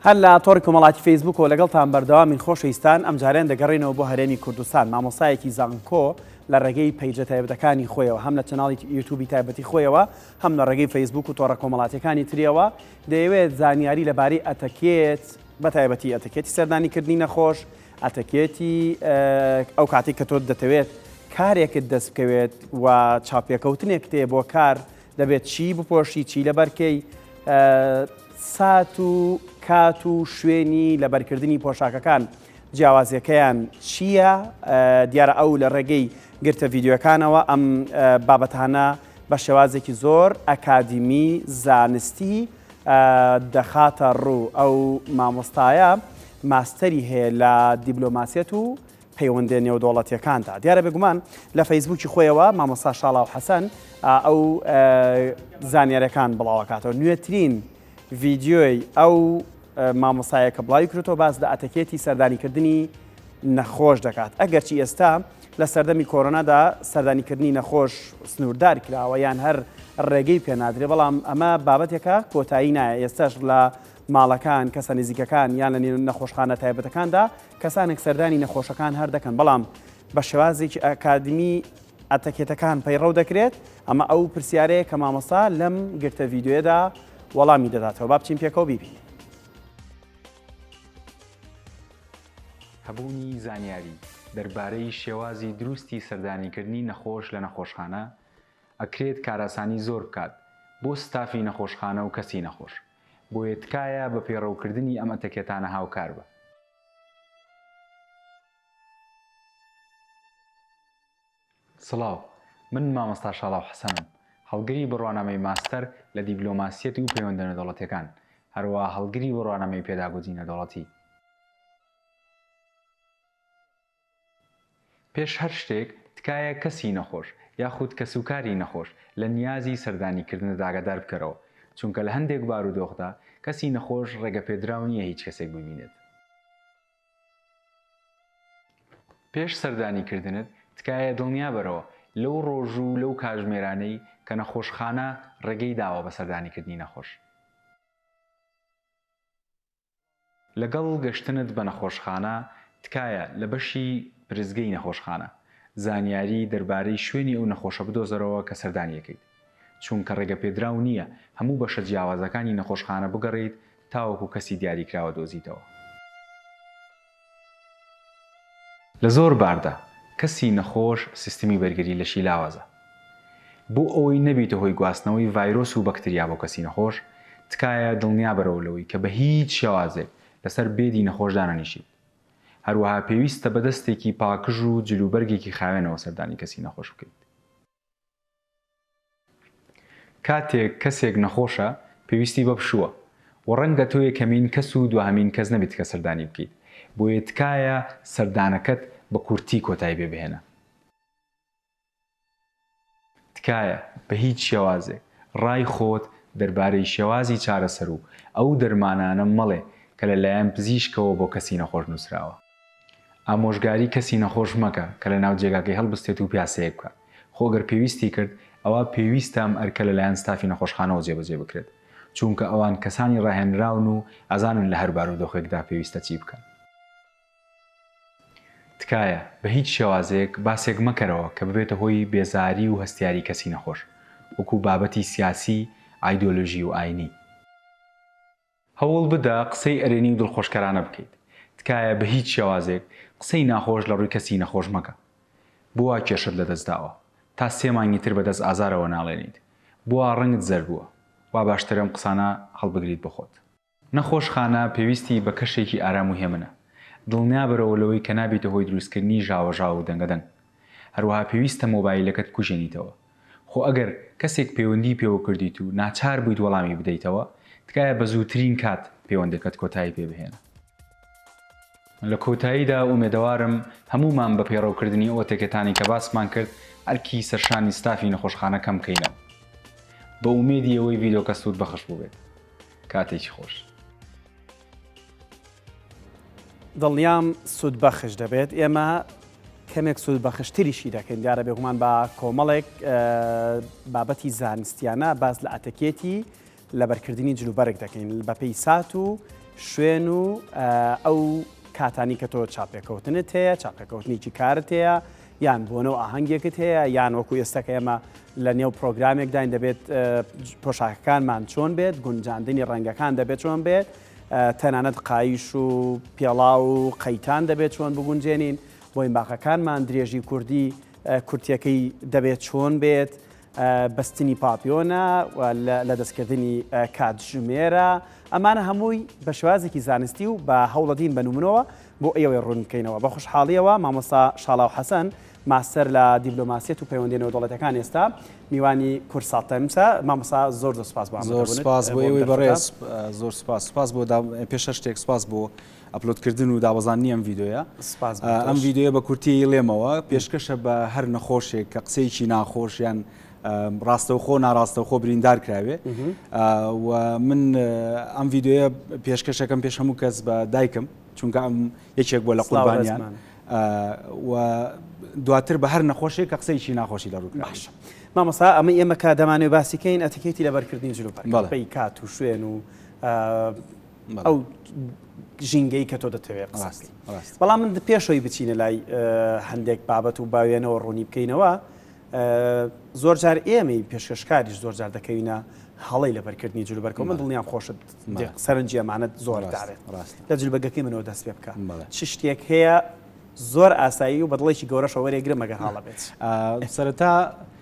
هەر لە تۆڕی کۆمەڵاتی فەیسبووکەوە لەگەڵتان بەردەوامین خۆشەویستان ئەمجارەیان دەگەڕێنەوە بۆ هەرێمی کوردستان مامۆستایەکی زانکۆ لە ڕێگەی پەیجە تایبەتەکانی خۆیەوە هەم لە چەناڵی یوتوبی تایبەتی خۆیەوە هەم لە ڕێگەی فەیسبوک و تۆڕە کۆمەڵاتەکانی تریەوە دەیەوێت زانیاری لەبارەی ئەتەکێت بە تایبەتی ئەتەکێتی سەردانیکردنی نەخۆش ئەتەکێتی ئەو کاتی کە تۆ دەتەوێت کارێکت دەست بکەوێت و چاپێکەوتنێک تێ بۆ کار دەبێت چی بپۆشی چی لەبەرکەی سات و کات و شوێنی لەبەرکردنی پۆشاکەکان جیاوازیەکەیان چییە دیارە ئەو لە ڕێگەی گرتە ڤیددیوەکانەوە ئەم بابەتانە بە شێوازێکی زۆر ئەکادیمی زانستی دەخاتە ڕوو ئەو مامۆستایە ماستەری هەیە لە دیبلۆماسیەت و پەیوەندیە نێودەوڵەتیەکاندا. دیارە بێگومان لە فەیسبووکی خۆیەوە مامۆستا شاڵاو حەسەن ئەو زانیارەکان بڵاوکاتەوە نوێترین ڤیددیۆی ئەو مامۆسایە کە بڵاوی کرێتەوە باس لە ئەتەکێتی سەردانیکردنی نەخۆش دەکات ئەگەرچی ئێستا لە سەردەمی کۆرۆنادا سەردانیکردنی نەخۆش سنووردار کراوە یان هەر ڕێگەی پێنادرێ بەڵام ئەمە بابەتێکە کۆتایی نایە ئێستاش لە ماڵەکان کەسە نزیکەکان یان لە نەخۆشخانە تایبەتەکاندا کەسانێک سەردانی نەخۆشەکان هەر دەکەن، بەڵام بە شێوازێکی ئەکادمی ئەتەکێتەکان پەیڕەو دەکرێت، ئەمە ئەو پرسیارەیە کە مامۆستا لەم گرتە ڤیدیۆیەدا وەڵامی دەداتەوە، با بچین پێکەوە بیبینین. هەبوونی زانیاری دەربارەی شێوازی دروستی سەردانیکردنی نەخۆش لە نەخۆشخانە ئەکرێت کارئاسانی زۆر بکات بۆ ستافی نەخۆشخانە و کەسی نەخۆش، بۆیە تکایە بە پەیڕەوکردنی ئەم ئەتەکێتانە هاوکار بە. سڵاو، من مامۆستا شاڵاو حەسەنم، هەڵگری بڕوانامەی ماستەر لە دیبلۆماسیەتی و پەیوەندە نێودەوڵەتیەکان، هەروەها هەڵگری بڕوانامەی پێداگۆجی نێودەوڵەتی. پێش هەر شتێک تکایە کەسی نەخۆش یاخود کەسوکاری نەخۆش لە نیازی سەردانیکردنت ئاگادار بکەرەوە، چونکە لە هەندێک بارودۆخدا کەسی نەخۆش ڕێگەپێدراو نییە هیچ کەسێک ببینێت. پێش سەردانیکردنت تکایە دڵنیابەرەوە لەو ڕۆژ و لەو کاژمێرانەی کە نەخۆشخانە ڕێگەی داوە بە سەردانیکردنی نەخۆش. لەگەڵ گەشتنت بە نەخۆشخانە تکایە لە بەشی پرسگەی نەخۆشخانە زانیاری دەربارەی شوێنی ئەو نەخۆشە بدۆزەرەوە کە سەردانی ئەکەیت چوونکە ڕێگەپێدراو نییە هەموو بەشە جیاوازەکانی نەخۆشخانە بگەڕێیت تاوەکو کەسی دیاریکراوە دۆزیتەوە. لە زۆر باردا کەسی نەخۆش سیستمی بەرگری لەشی لاوازە. بۆ ئەوەی نەبیتە هۆی گواستنەوەی ڤایرۆس و بەکتریا بۆ کەسی نەخۆش، تکایە دڵنیابەرەوە لەوەی کە بە هیچ شێوازێک لەسەر بێدی نەخۆش دانەنیشیت. هەروەها پێویستە بە دەستێکی پاکژ و جلوبەرگێکی خاوێنەوە سەردانی کەسی نەخۆش بکەیت. کاتێک کەسێک نەخۆشە پێویستی بە پشووە و ڕەنگە تۆ یەکەمین کەس و دواهەمین کەس نەبیت کە سەردانی بکەیت بۆیە تکایە سەردانەکەت بە کورتی کۆتایی پێ بهێنە. تکایە بە هیچ شێوازێک ڕای خۆت دەربارەی شێوازی چارەسەر و ئەو دەرمانانە مەڵێ کە لە لایەن پزیشکەوە بۆ کەسی نەخۆش نووسراوە. ئامۆژگاری کەسی نەخۆش مەکە کە لە ناو جێگاکەی هەڵبستێت و پیاسەیەک بکات، خۆ گەر پێویستی کرد ئەوا پێویستە ئەم ئەرکە لەلایەن ستافی نەخۆشخانەوە جێبەجێ بکرێت، چوونکە ئەوان کەسانی ڕاهێنراون و ئەزانن لە هەر بارودۆخێکدا پێویستە چی بکەن. تکایە بە هیچ شێوازێک باسێک مەکەرەوە کە ببێتە هۆی بێزاری و هەستیاری کەسی نەخۆش، وەکوو بابەتی سیاسی، ئایدۆلۆژی و ئاینی. هەوڵ بدە قسەی ئەرێنی و دڵخۆشکەرانە بکەیت. تکایە بە هیچ شێوازێک قسەی ناخۆش لە ڕووی کەسی نەخۆش مەکە. بوا کێشت لە دەست داوە؟ تا سێ مانگی تر بە دەست ئازارەوە ناڵێنیت. بوا ڕەنگت زەرد بووە. وا باشترە ئەم قسانە هەڵبگریت بۆ خۆت. نەخۆشخانە پێویستی بە کەشێکی ئارام و هێمنە. دڵنیابەرەوە لەوەی کە نابیتە هۆی دروستکردنی ژاوەژاو و دەنگەدەنگ. هەروەها پێویستە مۆبایلەکەت بکوژێنیتەوە. خۆ ئەگەر کەسێک پەیوەندیی پێوە کردیت و ناچار بوویت وەڵامی بدەیتەوە، تکایە بە زووترین کات پەیوەندەکەت کۆتایی پێ بهێنە. لە کۆتاییدا ئومێدەوارم هەموومان بە پەیڕەوکردنی ئەو تەکەتانەی کە باسمان کرد، ئەرکی سەرشانی ستافی نەخۆشخانە کەم بکەینەوە. بە ئومێدی ئەوەی ڤیدۆکە سوودبەخش بووبێت. کاتێکی خۆش. دڵنیام سوودبەخش دەبێت ئێمە کەمێک سوودبەخشتریشی دەکەین دیارە بێگومان بە کۆمەڵێک بابەتی زانستیانە باز لە ئەتەکێتی لەبەرکردنی جلوبەرگ دەکەین بە پێی سات و شوێن و ئەو کاتانی کە تۆ چاپێکەوتنت هەیە چاپێکەوتنیی کارت هەیە یان بۆنەو ئاهەنگێکت هەیە یان وەکو ئێستا کە ئێمە لە نێو پرۆگرامێکداین دەبێت پۆشاکەکانمان چۆن بێت گونجاندنی ڕەنگەکان دەبێت چۆن بێت تەنانەت قایش و پێڵا و قەیتان دەبێت چۆن بگونجێنین بۆی باقەکانمان درێژی کوردی کورتەکەی دەبێت چۆن بێت بەستنی پاپیۆنە، لەدەستکردنی کاتژمێرە، ئەمانە هەمووی بە شێوازێکی زانستی و بە هەوڵەدین بە نمونەوە بۆ ئێوەی ڕوون بکەینەوە. بە خوشحاڵیەوە مامۆستا شاڵاو حەسەن، ماستەر لە دیبلۆماسیەت و پەیوەندیە نێودەوڵەتیەکان ئێستا میوانی کوردسات تایمز ە. مامۆستا زۆر زۆر سوپاس بۆ ئامادە بونت. زۆر سوپاس بۆ ئێوەی بەڕێز. زۆر سوپاس. سوپاس بۆ دام پێشەشتێک سوپاس بۆ. ئەپلۆد کردن و دابەزاندنی ئەم ڤیدیۆیە. سپاس بۆ تۆش. ئەم ڤیدیۆیە بە کورتیی لێمەوە پێشکەشە بە هەر نەخۆشێک کە قسەیەکی ناخۆش یان ڕاستەوخۆ ناڕاستەوخۆ بریندار کراوێ و من ئەم ڤیدیۆیە پێشکەشەکەم پێش هەموو کەس بە دایکم چونکە ئەم یەکێک بووە لە قوربانیان و دواتر بە هەر نەخۆشێک کە قسەیەکی ناخۆشی لە ڕووکرا. باشە. مامۆستا ئەمە ئێمە کە دەمانەوێ باسی کەین ئەتیکێتی لەبەرکردنی جل و بەرگ بەپێی کات و شوێن و ئەو ژینگەی کە تۆ دەتەوێت ڕاستی بەڵام من پێشەوەی بچینە لای هەندێک بابەت و باوێنەوە ڕوونی بکەینەوە زۆر جار ئێمەی پێشکەشکاریش زۆر جار دەکەوینە هەڵی لەبەرکردنی جلو بەرکە من دڵنیام خۆشت سەرنجی ئەمانەت زۆر داێت لە جل بەگەکەی منەوە دەست پێ بکە چ شتێک هەیە زۆر ئاسایی و بەدڵێکی گەورەشەوەێ گرمەگە هاڵە بێت سەرەتا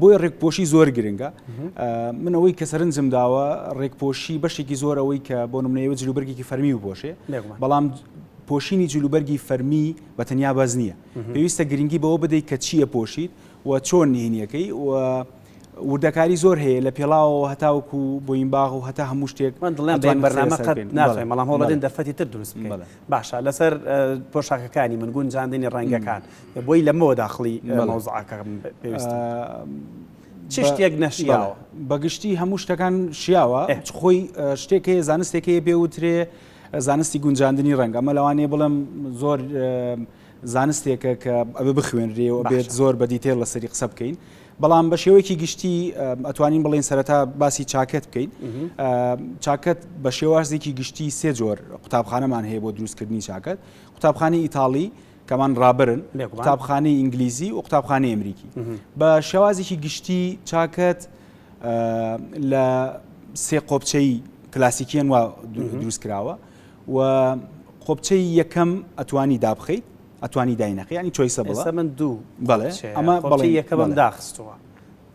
بۆیە ڕێکپۆشی زۆر گرنگە من ئەوەی کە سەرنجم داوە ڕێکپۆشی بەشێکی زۆر ئەوەی کە بۆ نمونەیە جلوبەرگێکی فەرمی و بۆشێ بەڵام پۆشینی جلوبەرگی فەرمی بە تەنیا باز نییە پێویستە گرنگی بەوە بدەیت کە چییە پۆشیت و چۆن نهینیەکەی و وردەکاری زۆر هەیە لە پێڵاوەوە هەتاوک و بۆین باغ و هەتا هەموو شتێک من دڵێن بەڵام بەرنامە قەت ناڵێ بەڵام هەوڵدن دەفەتی تر دروست باشە لەسەر پۆشاکەکانی من گونجاندنی ڕەنگەکان بۆی لەمەوە داخڵی مەوزعاکەم پێویست چ شتێک نەشیاوە بەگشتی هەموو شتەکان شیاوە خۆی شتێک هەیە زانستێک هەیە پێ وترێ زانستی گونجاندنی ڕەنگ ئەمە لەوانەیە بڵم زۆر زانستێکە کە ئەوێ بخوێنرێەوە بێت زۆر بە دیتێل لەسەری قسە بکەین بەڵام بە شێوەیەکی گشتی ئەتوانین بڵین سەرەتا باسی چاکەت بکەین چاکەت بە شێوازێکی گشتی سێ جۆر قوتابخانەمان هەیە بۆ دروستکردنی چاکەت قوتابخانی ئیتاڵی کەمان ڕابرن قوتابخانی ئینگلیزی و قوتابخانی ئەمریکی بە شێوازێکی گشتی چاکەت لە سێ قۆپچەی کلاسیکیان وا دروست کراوە و قۆپچەی یەکەم ئەتوانی دابخیت ئەتوانی داینەقی یانی چۆیسە بڵە ئێستا من دوو بەڵێ ئەمە بەڵێ یەکەمم داخستووە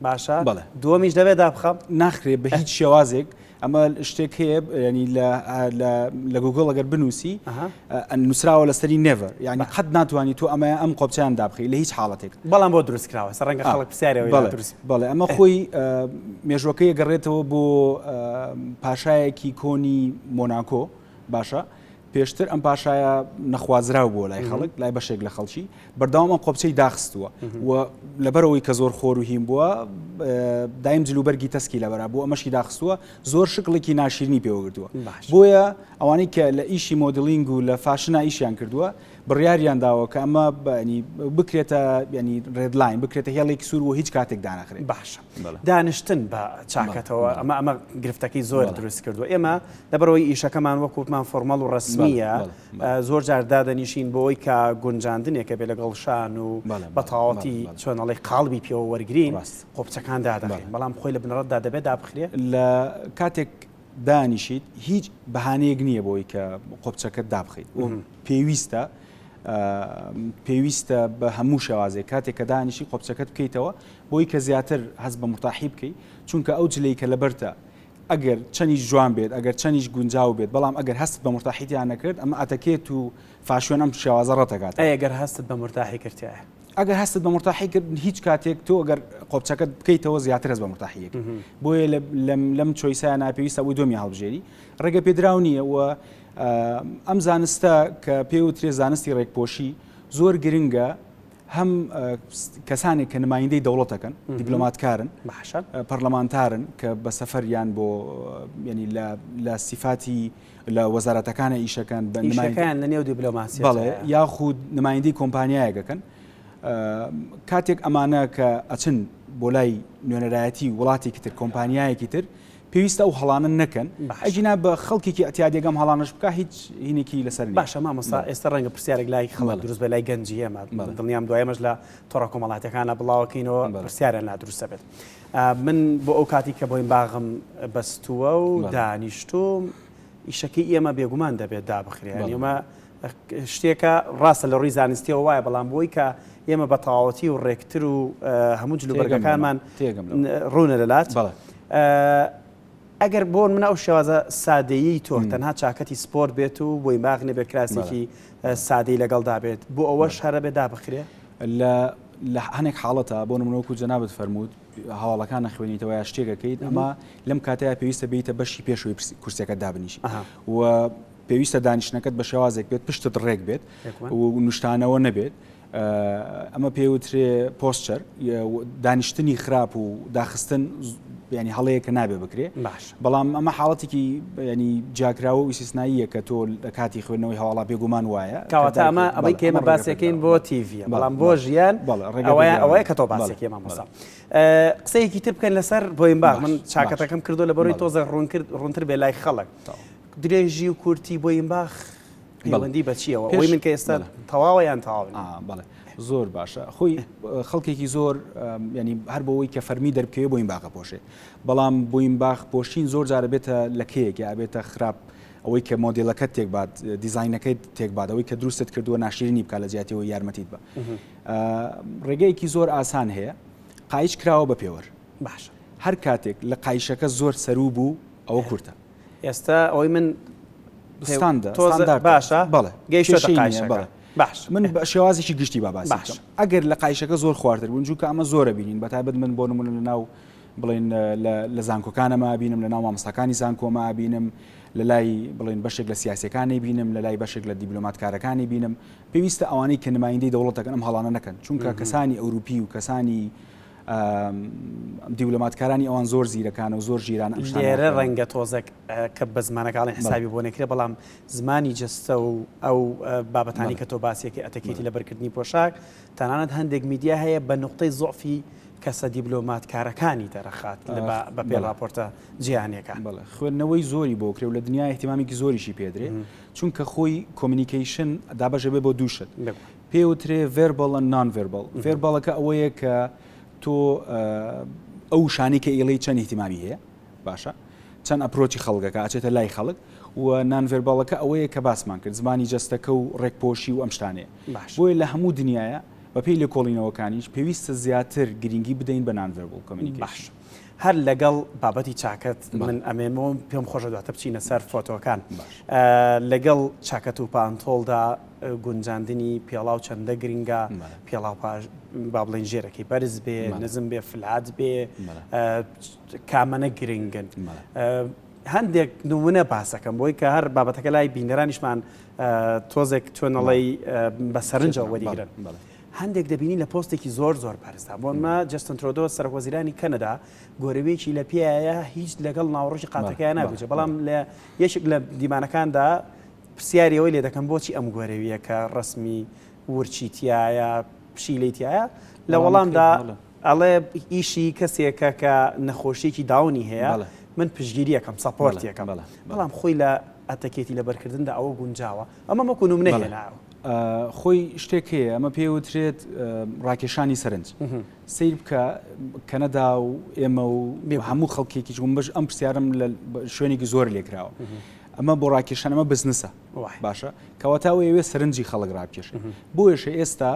باشە بەڵێ دووەمیش دەبێ دابخەم ناخرێ بە هیچ شێوازێک ئەمە شتێک هەیە ینی لە گوگل ئەگەر بنووسی نووسراوە لەسەری نێڤەر یعنی قەت ناتوانانی تو ئەمە ئەم قۆپچیان دابخی لە هیچ حاڵەتێک بەڵام بۆ دروستکراوە ڕەنگە خەڵک پرسیارەوە بەڵێ ئەمە خۆی مێژوەکەی گەڕێتەوە بۆ پاشایەکی کۆنی مۆناکۆ باشە پێشتر ئەم پاشایە نەخوازراو بووە لای خەڵک لای بەشێک لە خەڵکی بەرداوام ئەم قۆپچەی داخستووە و لەبەرەوەی کە زۆر خۆر و هیم بووە دایم جلوبەرگی تەسکی لەبەرا بوو ئەمەشی داخستووە زۆر شکڵێکی ناشیرنی پێوەگردووە بۆیە ئەوانەی کە لە ئیشی مۆدلینگ و لە فاشنا ئیشیان کردووە بڕیاریان داوە کە ئەمە بەنی بکرێتە ینی ڕێدلاین بکرێتە هێڵێک سوور و هیچ کاتێک دانەخرێت باشە دانیشتن بە چاکەتەوە ئەمە ئەمە گرفتەکەی زۆر دروست کردو ئێمە لەبەرەوەی ئیشەکەمان وەکووتمان فۆرمەڵ و ڕسمیە زۆر جار دادەنیشین بۆی کە گونجاندنێکە بێ لەگەڵ شان و بەتاڵەتی چۆنەڵی قاڵبی پێوە وەرگین قۆپچەکان دادەێن بەڵام خۆی لە بنەڕەتدا دەبێت دابخرێ لە کاتێک دانیشیت هیچ بەهانەیەک نییە بۆی کە قۆپچەکە دابخیت پێویستە پێویستە بە هەموو شێوازێک کاتێک کە دانیشی قۆپچەکەت بکەیتەوە بۆی کە زیاتر هەست بە مورتاحی بکەی چونکە ئەو جلەی کە لەبەرتە ئەگەر چەنیش جوان بێت ئەگەر چەنیش گونجاو بێت بەڵام ئەگەر هەستت بە مورتاحی تیا نەکرد ئەمە ئەتەکێت و فاشیۆن ئەم شێوازە ڕەت ئەکات. ئەی ئەگەر هەستت بە مورتاحی کرد تایە؟ ئەگەر هەستت بە مورتاحی کرد هیچ کاتێک تۆ ئەگەر قۆپچەکەت بکەیتەوە زیاتر هەست بە مورتاحی ئەکەی بۆیە لەم چۆیسە نا پێویستە ئەوەی دۆمی هەڵبژێری ڕێگە پێدراو نییە و ئەم زانستە کە پێ وترێ زانستی ڕێکپۆشی زۆر گرنگە هەم کەسانێک کە نمایندەی دەوڵەتەکەن دیبلۆماتکارن پەرلەمانتارن کە بە سەفەریان بۆ ینی لە سیفاتی لە وەزارەتەکانە ئیشەکان بە نمایەکەیان لە نێو دیبلۆماسی بەڵێ یاخود نمایندی کۆمپانیایەکەکەن کاتێک ئەمانە کە ئەچن بۆ لای نوێنەرایەتی وڵاتێکی تر کۆمپانیایەکی تر پێویستە ئەو هەڵانە نەکەن ئەگینا بە خەڵکێکی ئەتیادیەگە ئەم هەڵانەش بکا هیچ هینێکی لەسەر نیە. باشە مامۆستا ئێستا ڕەنگە پرسیارێک لای خەڵک دروست بێت لای گەنجی ئێمە دڵنیام دوای ئەمەش لە تۆڕە کۆمەڵاتیەکانە بڵاوەکەینەوە پرسیارە نادروستە بێت من بۆ ئەو کاتی کە بۆین باغم بەستووە و دانیشتوم ئیشەکەی ئێمە بێگومان دەبێت دابخرێن ئێمە شتێکە ڕاستە لە ڕووی زانستیەوە وایە بەڵام بۆی کە ئێمە بە تەواوەتی و ڕێکتر و هەموو جل و بەرگەکانمان ڕوونە لەلات ئەگەر بۆن منە ئەو شێوازە سادەیی تۆ تەنها چاکەتی سپۆرت بێت و بۆی ماغ نەبێت کراسێکی سادەی لەگەڵدا بێت بۆ ئەوە شارە بێ دابخرێ لە لە هەنێک حاڵەتە بۆ منەوەکو جەنابەت فەرمووت هەواڵەکان نەخوێنیتەوە یا شتێکەکەیت ئەمە لەم کاتەیە پێویستە بیتە بەشی پێشوی کورسەکە دابنیش و پێویستە دانیشتنەکەت بە شێوازێک بێت پشتت ڕێک بێت و نوشتانەوە نەبێت. ئەمە پێوترێ پۆستچەر دانیشتنی خراپ و داخستن ینی هەڵەیە کە نابێ بکرێ باش بەڵام ئەمە حاڵەتێکی ینی جاکراوە و سیسناییە کە تۆ لە کاتی خوێندنەوەی هەواڵا بێگومان وایە کاواتا ئەمە ئەمەی کێمە باسەکەین بۆ تیڤە بەڵام بۆ ژیان ئەوەیە کە تۆ باسێکی مامۆسا قسەیەکی تر بکەن لەسەر بۆیم با من چاکەتەکەم کردو لە بەرەوەی تۆزە ڕوون کرد ڕوونتر بێ لای خەڵک درێژی و کورتی بۆینباخ بەڵێ پەیوەندی بە چییەوە؟ ئەوەی پێش من کە ئێستا بەڵێ تەواوە یان تەواو نییە؟ ئا بەڵێ زۆر باشە خۆی خەڵکێکی زۆر ئەم یانی هەر بۆوەی کە فەرمی دەربکەوێ بۆینباخ ئەپۆشێ بەڵام بۆینباخ پۆشین زۆر جارە بێتە لە کێیەک یا ئەبێتە خراپ ئەوەی کە مۆدیلەکەت تێک بات دیزاینەکەی تێک بات ئەوەی کە دروستت کردووە ناشرینی بکات لە جیاتی ئەوەی یارمەتیت بە ئا ڕێگەیەکی زۆر ئاسان هەیە قایچ کراوە بە پێوەر باشە هەر کاتێک لە قایشەکە زۆر سەروو بوو ئەوە کورتە ئێستا ئەوەی من ستاندە تۆزە ستاندارد باشە بەڵێ گەیشتە کێشەی نییە، قایشەکە بەڵێ. باش من بە شێوازێکی گشتی با باسی باش. بکەم ئەگەر لە قایشەکە زۆر خوارتر بوون جوکە ئەمە زۆرە بینین بە تایبەت من بۆ نمونە لە ناو بڵین لە- لە زانکۆکانەما بینم لە ناو مامۆستاکانی زانکۆما بینم لە لای بڵین بەشێک لە سیاسیەکانی بینم لە لای بەشێک لە دیبلۆماتکارەکانی بینم پێویستە ئەوانەی کە نمایندەی دەوڵەتەکەن ئەم هەڵانە نەکەن چونکە کەسانی ئەوروپی و کەسانی دیبلۆماتکارانی ئەوان زۆر زیرەکانە و زۆر ژیرانە ئەم شتانە ناکەن. لێرە ڕەنگە تۆزێک کە بە زمانە کاڵین حسابی بۆ نەکرێ، بەڵام زمانی جەستە و ئەو بابەتانەی کە تۆ باسی ئەکەی، ئەتەکێتی لەبەرکردنی پۆشاک، تەنانەت هەندێک میدیا هەیە بە نوقتەی زوعفی کەسە دیبلۆماتکارەکانی دەرەخات بە پێی ڕاپۆرتە جیهانیەکان. بەڵێ خوێندنەوەی زۆری بۆ کرێ و لە دنیا ئیهتیمامێکی زۆریشی پێدرێ، چونکە خۆی کۆمینیکەیشن دابەش ئەبێ بۆ دوو شت. پێی وترێ ڤێربەڵ ئەند نان ڤێربەڵ، ڤێربەڵەکە ئەوەیە کە تۆ ئەو وشانەی کە ئیڵێی چەند ئیهتیمامی هەیە باشە چەند ئەپرۆچی خەڵکەکە ئاچێتە لای خەڵک و نان ڤێربەڵەکە ئەوەیە کە باسمان کرد زمانی جەستەکە و ڕێکپۆشی و ئەم شتانەیە باش بۆیە لە هەموو دنیاە بەپێی لێکۆڵینەوەکانیش پێویستە زیاتر گرنگی بدەین بە نان ڤێربڵ کۆمینیکەیشن. باش هەر لەگەڵ بابەتی چاکەت من ئەمێنمەوە پێم خۆشە دواتر بچینە سەر فۆتۆکان باش. لەگەڵ چاکەت و پانتۆڵدا گونجاندنی پێڵاو چەندە گرنگە پێڵاو با بڵێن ژێرەکەی بەرز بێ نزم بێ فلات بێ کامەە گرنگن هەندێک نمونە باسەکەم بۆی کە هەر بابەتەکە لای بینەرانیشمان تۆزێک توێنەڵی بە سەرنجەوە وەریگرن هەندێک دەبینی لە پۆستێکی زۆر زۆر بەرزدا بۆنمە جستن ترۆدۆ سەرۆزیرانی کەنەدا گۆرەوێکی لە پێایە هیچ لەگەڵ ناوڕژی قاتەکەیان ناگوچێ بەڵام لە یەکێک لە دیمانەکاندا پرسیاری ئەوەی لێ دەکەم بۆچی ئەم گۆرەوییە کە ڕەسمی ورچی تیایە، پشیلەی تیایە، لە وەڵامدا ئەڵێ ئیشی کەسێکە کە نەخۆشییەکی داونی هەیە، من پشتگیری ئەکەم، سەپۆرتی ئەکەم، بەڵام خۆی لە ئەتەکێتی لەبەرکردندا ئەوە گونجاوە؟ ئەمەم وەکو نمونە هێناوە. خۆی شتێک هەیە ئەمە پێی وترێت ڕاکێشانی سەرنج. سەیر بکە کەنەدا و ئێمە و هەموو خەڵکێکی جومبەش ئەم پرسیارم لە شوێنێکی زۆر لێکراوە. ئەمە بۆ ڕاکێشان ئەمە بزنسە باشە کەواتە ئەو ئەوێ سەرنجی خەڵک ڕاکێش بۆیشە ئێستا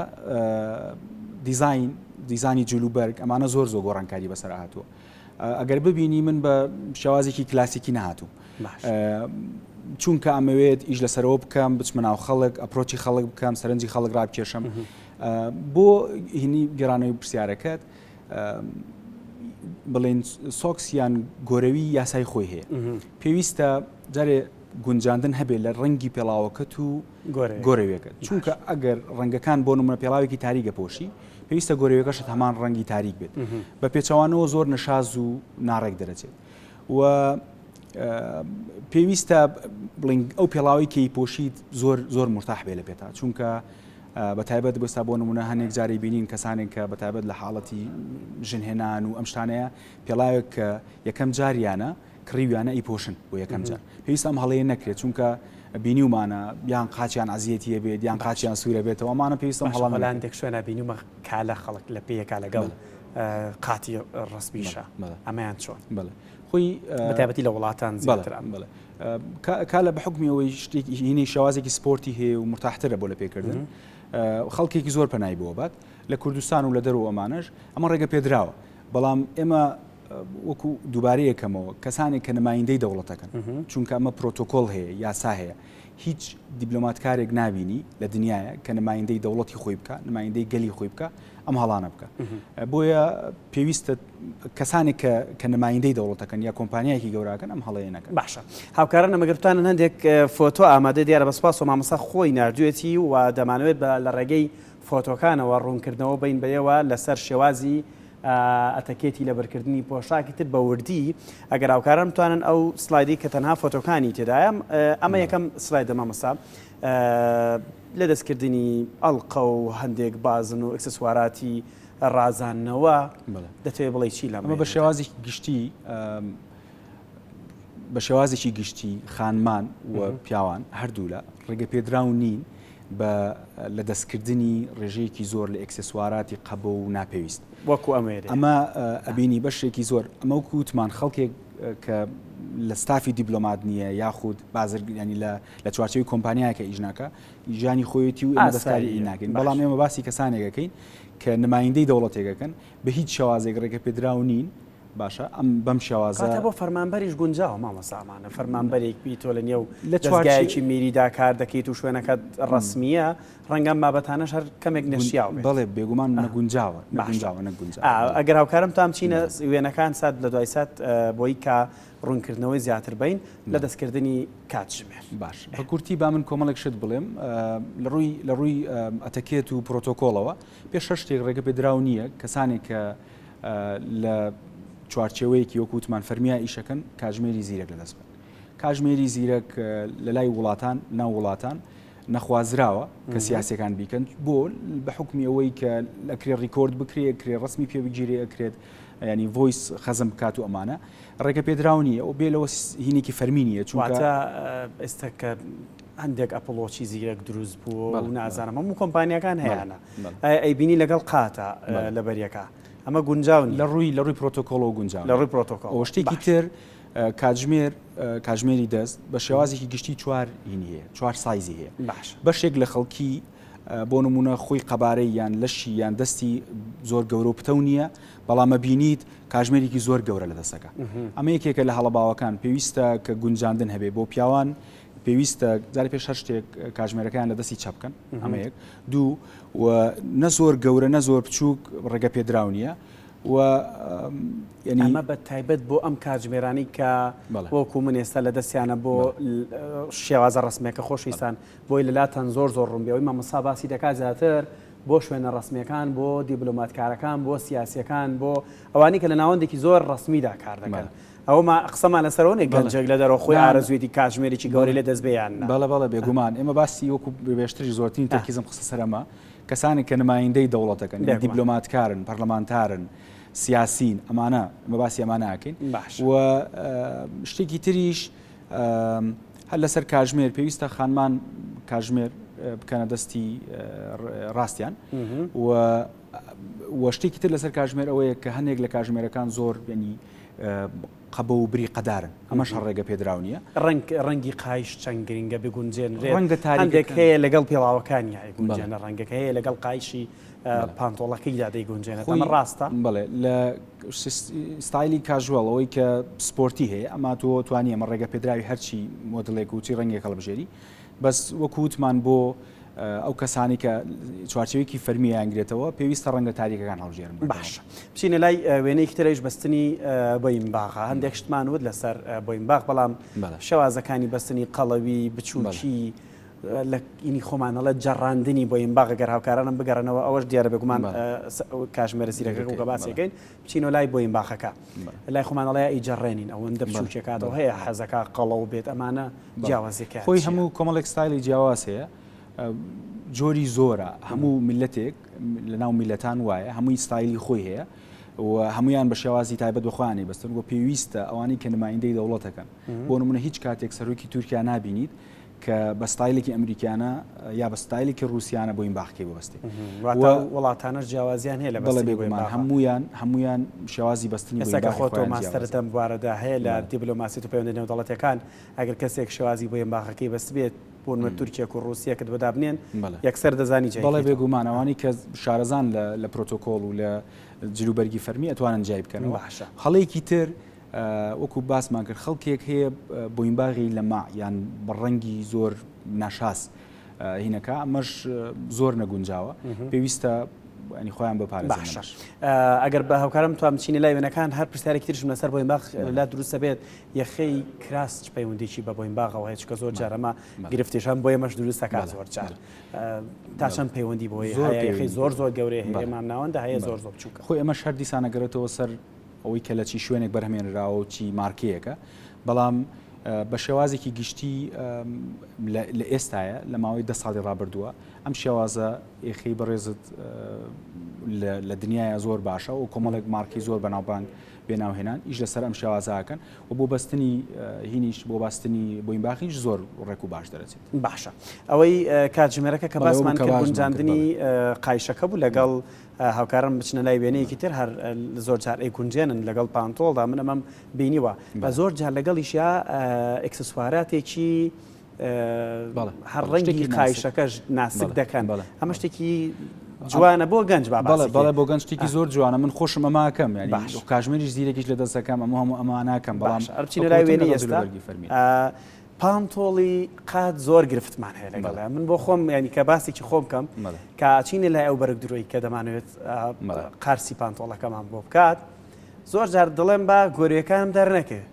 دیزین دیزانی جلوبەرگ ئەمانە زۆر زۆر گۆڕانکاری بەسەر هاتووە ئەگەر ببینی من بە شێوازێکی کلاسیکی نهاتوو چونکە ئەمەوێت ئیش لەسەرەوە بکەم بچمە ناو خەڵک ئەپرۆچی خەڵک بکەم سەرنجی خەڵک ڕابکێشم بۆ هینی گەرانەوەی پرسیارەکەت بڵێن سۆکس یان گۆرەوی یاسای خۆی هەیە پێویستە جارێ گونجاندن هەبێت لە ڕەنگی پێڵاوەکەت و گۆرەوێکە چونکە ئەگەر ڕەنگەکان بۆ نمە پێڵاوێکی تاریگە پۆشی پێویستە گۆرەوێکەشت هەمان ڕەنگی تاریک بێت بە پێچوانەوە زۆر نەشاز و ناڕێک دەرەچێت و پێویستە بڵنگ ئەو پێڵاوی کەی پۆشیت زۆر زۆر مرتاح بێ لە پێتا چونکە بە تایبەت ئێستا بۆ نموونە هەنێک جاری بینین کەسانێک کە بە تایبەت لە حاڵەتی ژن هێنان و ئەم شتانەیە پێڵاوێک کە یەکەم جاریانە کڕیویانە ئەیپۆشن بۆ یەکەم جار پێویستە ئەم هەڵەیە نەکرێت چونکە بینیومانە یان قاچیان عەزیەتی هەبێت یان قاچیان سوورە بێتەوە ئەمانە پێویستم هەڵە مەلان هەلاندێک شوێنە بینیومە کا لە خەڵک لە پێیەکا لەگەڵ قاتی ڕەسمیشە بەڵێ. ئەمەیان چۆن بەڵێ خۆی بە تایبەتی لە وڵاتان زیاتر بەڵێ بەڵێ کالە بەحوکمی ئەوەی شتێکی هینەی شێوازێکی سپۆرتی هەیە و مرتاحترە بۆ لە پێکردن خەڵکێکی زۆر پەنای بۆ بات لە کوردستان و لە دەرو ئەمانەش ئەمە ڕێگە پێدراوە بەڵام ئێمە وەکو دووبارە یەکەمەوە کەسانێک کە نمایندەی دەوڵەتەکەن چونکە ئەمە پرۆتۆکۆل هەیە یاسا هەیە هیچ دیبلۆماتکارێک نبینی لە دنیاە کە نمایندەی دەوڵەتی خۆی بکە نمایندەی گەلی خۆی بکە ئەم هەڵانە بکە بۆیە پێویستە کەسانێک کە نمایندەی دەوڵەتەکەن یا کۆمپانیایەکی گەوراکەن ئەم هەڵەیە نەکەن. باشە هاوکارانم ئەگەر بتوانن هەندێک فۆتۆ ئامادەی دیارە بە سوپاسەوە مامۆستا خۆی ناردوێتی و دەمانەوێت بە لە ڕێگەی فۆتۆکانەوە ڕوونکردنەوە بەین بەیەوە لەسەر شێوازی ئەتەکێتی لە بەرکردنی پۆشاکی تر بە وردی ئەگەر هاوکاران بتوانن ئەو سلایدی کە تەنها فۆتۆکانی تێدایە ئەمە یەکەم سلایدە مامۆستا لە دەستکردنی ئەڵقە و هەندێک بازن و ئکسسواراتی ڕازاندنەوە دەتەوێت بڵێ چی لەمە بە شێوازی گشتی بە شێوازێکی گشتی خانمان و پیاوان هەردوو لە ڕێگە پێدراو نین بە لە دەستکردنی ڕێژەیەکی زۆر لە ئەکسسواراتی قەبە و ناپێویست وەکو ئەمێ ئەمە ئەبینی بەشێکی زۆر ئەمە وکووتمان خەڵکێک کە لە ستافی دیبلۆمات نییە یاخود بازرگانی لە لە چوارچەوی کۆمپانیایەکە ئیژناکە ژیانی خۆیەتی و ئێمە دەستکاریی ناکەین، بەڵام ئێمە باسی کەسانێک دەکەین کە نمایندەی دەوڵەتێک دەکەن، بە هیچ شێوازێک ڕێگەپێدراو نین، باشە ئەم بەم شێوازە. کاتە بۆ فەرمانبەریش گونجاوە مامۆستا ئەمانە فەرمانبەرێک بیت تۆ لەنێو دەزگایەکی میریدا کار دەکەیت و شوێنەکەت ڕەسمییە، ڕەنگە ئەم بابەتانەش هەر کەمێک نەشیاو بێت. بەڵێ بێگومان نەگونجاوە، نەگونجاوە، نەگونجاوە. ئەگەر هاوکارم تام چینە وێنەکان سات لە دوای سات بۆی کا ڕوونکردنەوەی زیاتر بین لە دەستکردنی کاتژمێر. باش بە کورتی با من کۆمەڵێک شت بڵێم لە ڕووی لە ڕووی ئەتەکێت و پرۆتۆکۆڵەوە پێش هەر شتێک ڕێگە پێدراو نییە کەسانێک کە لە چوارچێوەیەکی وەکو وتمان فەرمیای ئیشەکەن کاژمێری زیرەک لەدەست بن کاژمێری زیرەک لە لای وڵاتان ناو وڵاتان نەخوازراوە کە سیاسەکان بیکەن بۆ بە حکمی ئەوەی کە لەکرێ ڕیکۆرد بکرێ کرێ ڕسمی پێ بگیرێ ئەکرێت ینی ڤۆیس خەزم بکات و ئەمانە ڕێگەپێدراو نییە و بێ لەوەش هینێکی فەرمی نییە، چونکە. واتە ئێستا کە هەندێک ئەپڵوۆچی زیرەک دروست بوو و نازانم هەموو کۆمپانیاکان هەیانە، ئایا ئەیبینی لەگەڵ قاتە لەبەریەکە؟ ئەمە گونجاو نییە. لە ڕووی لە ڕووی پرۆتۆکۆڵەوە گونجاو نییە. لە ڕووی پرۆتۆکۆڵەوە. باشە. شتێکی تر کاتژمێر، کاتژمێری دەست بە شێوازێکی گشتی چوار هینی هەیە، چوار سایزی هەیە. باشە. بەشێک لە خەڵکی بۆ نموونە خۆی قەبارەی یان لەشی یان دەستی زۆر گەورە و پتەو نییە، بەڵام ئەبینیت کاژمێرێکی زۆر گەورە لە دەستەکە ئەمە یەکێکە لە هەڵە باوەکان پێویستە کە گونجاندن هەبێ بۆ پیاوان پێویستە جاری پێش هەر شتێک کاژمێرەکەیان لە دەستی چە بکەن ئەمەیەک دوو و نە زۆر گەورە نە زۆر بچووک ڕێگە پێدراو نییە و ینی ئەمە بە تایبەت بۆ ئەم کاتژمێرانی کە وەکو من ئێستا لە دەستیانە بۆ شێوازە ڕسمێکە خۆشویستان بۆی لەلاتان زۆر زۆر ڕوون بێەوەی مامەسا باسی دەکات زیاتر بۆ شوێنە ڕەسمیەکان، بۆ دیبلۆماتکارەکان، بۆ سیاسیەکان، بۆ ئەوانەی کە لە ناوەندێکی زۆر ڕەسمیدا کار دەکەن. ئەوەما قسەمان لەسەرەوە نیە گەنجێک لە دەرەوە خۆی ئارەزویەتی کاتژمێرێکی گەورەی لێ دەست بێ یان نا. بەڵێ بەڵێ بێگومان. ئێمە باسی وەکو بێشتریش زۆرترین تەرکیزم خستە سەر ئەمە. کەسانێک کە نمایندەی دەوڵەتەکەن، یان دیبلۆماتکارن، پەرلەمانتارن، سیاسین، ئەمانە ئێمە باسی ئەمانە ئەکەین. و شتێکی تریش، هەر لەسەر کاژمێر پێویستە خانمان کاژمێر بکەنە دەستی ڕاستیان و شتێکی تر لەسەر کاژمێر ئەوەیە کە هەنێک لە کاژمێرەکان زۆر بێنی قەبە و بری قەدارن ئەمەش ڕێگە پێدراو نیە ڕنگ ڕەنگی قایش چەند گرنگە بگونجێن ڕەنگە تاندێک هەیە لەگەڵ پێڵاوەکانی گونجێنە ڕەنگەکە هەیە لەگەڵ قایشی پانتۆڵەکەی دا دەیگونجێنێت خۆی ڕاستە بڵێ لە ستایلی کاژوەڵەوەی کە سپۆرتی هەیە ئەما تۆ توانی ئەمە ڕێگە پێدراوی هەرچی مۆدلێک وچی ڕەنگێک هەڵبژێری بەس وەکووتمان بۆ ئەو کەسانی کە چوارچەوێکی فەرمیانگرێتەوە پێویستە ڕەنگە تاریکەکان هەڵژێرن باش بچینە لای وێنەیەکی ترەیش بەستنی بۆیم باغا هەندێک شتمان وت لەسەر بۆیم باغ بەڵام شێوازەکانی بەستنی قەڵەوی بچووکی لە ینی خۆمان ئەڵێ جەڕاندنی بۆیم باغە گەر هاوکارانم بگەڕێنەوە ئەوەش دیارە بێگومان کاژمێرە زیرەکەک و گەباسیەکەین بچینەوە لای بۆیم باخەکە لای خۆمان ئەڵێ ئی جەڕێنین ئەوەندە بچوکێکاتەوە هەیە حەزەکە قەڵە و بێت ئەمانە جیاوازەکە خۆی هەموو کۆمەڵێک ستایلی جیاواز هەیە جۆری زۆرە هەموو میلەتێک لە ناو میلەتان وایە هەمووی ستایلی خۆی هەیە و هەمویان بە شێوازی تایبەت بخوانی بەستن و پێویستە ئەوانی کە نمایندەی دەوڵەتەکەن بۆ نمونە هیچ کاتێک سەرۆکی تورکیا نبینیت کە بە ستایلێکی ئەمریکیانە یا بە ستایلێکی ڕووسیانە بۆین باخەکەی ببەستێ واتە وڵاتانەش جیاوازیان هەیە لە بەڵێ بێگومان هەموویان هەموویان شێوازی بەستنی بۆین باخەکەی خۆیان جیاوازە. ئێستا کە خۆ تۆ ماستەرت لەم بوارەدا هەیە لە دیبلۆماسیەت و پەیوەندیە نێودەڵەتیەکان ئەگەر کەسێک شێوازی بۆین باخەکەی بەستبێت بۆ نمونە تورکێک و ڕووسیەکت بۆ دابنێن یەکسەر دەزانی جێی بکەیتەوە. بەڵێ بێگومان ئەوانەی کە شارەزان لە پرۆتۆکۆڵ و لە جلوبەرگی فەرمی ئەتوانن جیای بکەنەوە. باشە. هەڵەیەکی تر وەکو باسمان کرد خەڵکێک هەیە بۆینباغی لەماع یان بە ڕەنگی زۆر ناشاز هینەکە ئەمەش زۆر نەگونجاوە پێویستە ئەنی خۆیان بەپارێزش ئەگەر بە هاوکارم توام چینە لای وێنەکان هەر پرسیارێکی ترشم لەسەر بۆین باخ لا دروستە بێت یەخەی کراس چ پەیوەندێکی بە بۆین باغەوە هەیە چکە زۆر جارەمە گرفتێشان بۆ ئێمەش دروستە کار زۆر جار تا چەند پەیوەندی بۆی زۆر زۆر زۆر گەورەیە ئێمان ناوەندە هەیە زۆر زۆر بچووکە خۆی ئەمە شەر دیسانەگەرێتەوە سەر ئەوەی کە لە چی شوێنێک بەرهەمێنراوە و چی مارکەیەکە بەڵام بە شێوازێکی گشتی لە ئێستاە لە ماوەی دە ساڵی ڕابردووە ئەم شێوازە ئێخی بەڕێزت لە دنیاە زۆر باشە و کۆمەڵێک مارکی زۆر بەناوبانگ بێناوهێنان ئیش لەسەر ئەم شێوازاکەن و بۆ بەستنی هینیش بۆ باستنی بۆین باخیش زۆر ڕێک و باش دەرەچێت باشە ئەوەی کاتژمێرەکە کە باسمان کە گونجاندنی قایشەکە بوو لەگەڵ هاوکارم بچنە لای وێنەیەکی تر هەر زۆر جار ئەیگونجێنن لەگەڵ پانتۆڵدا من ئەمەم بینیوە بە زۆر جار لەگەڵیشیا ئەکسسواراتێکی هەر ڕەنگی قایشەکەش ناسک دەکەن ئەمە شتێکی جوانە بۆ گەنج بەڵێ بۆ گەنج شتێکی زۆر جوانە من خۆشم ئەماکەم ینی کاژمێریش زیرەکیش لە دەستەکەم ئەمە هەموو ئەماناکەم بەڵام ئەرچی لای وێنی ئێستا فەرمی پانتۆڵی قات زۆر گرفتمان هەیە لەگەڵ من بۆ خۆم ینی کە باسێکی خۆم بکەم کاچینە لای ئەو بەرگ درۆی کە دەمانوێت قارسی پانتۆڵەکەمان بۆ بکات زۆر جار دڵێم با گۆریەکانم دەرنەکرد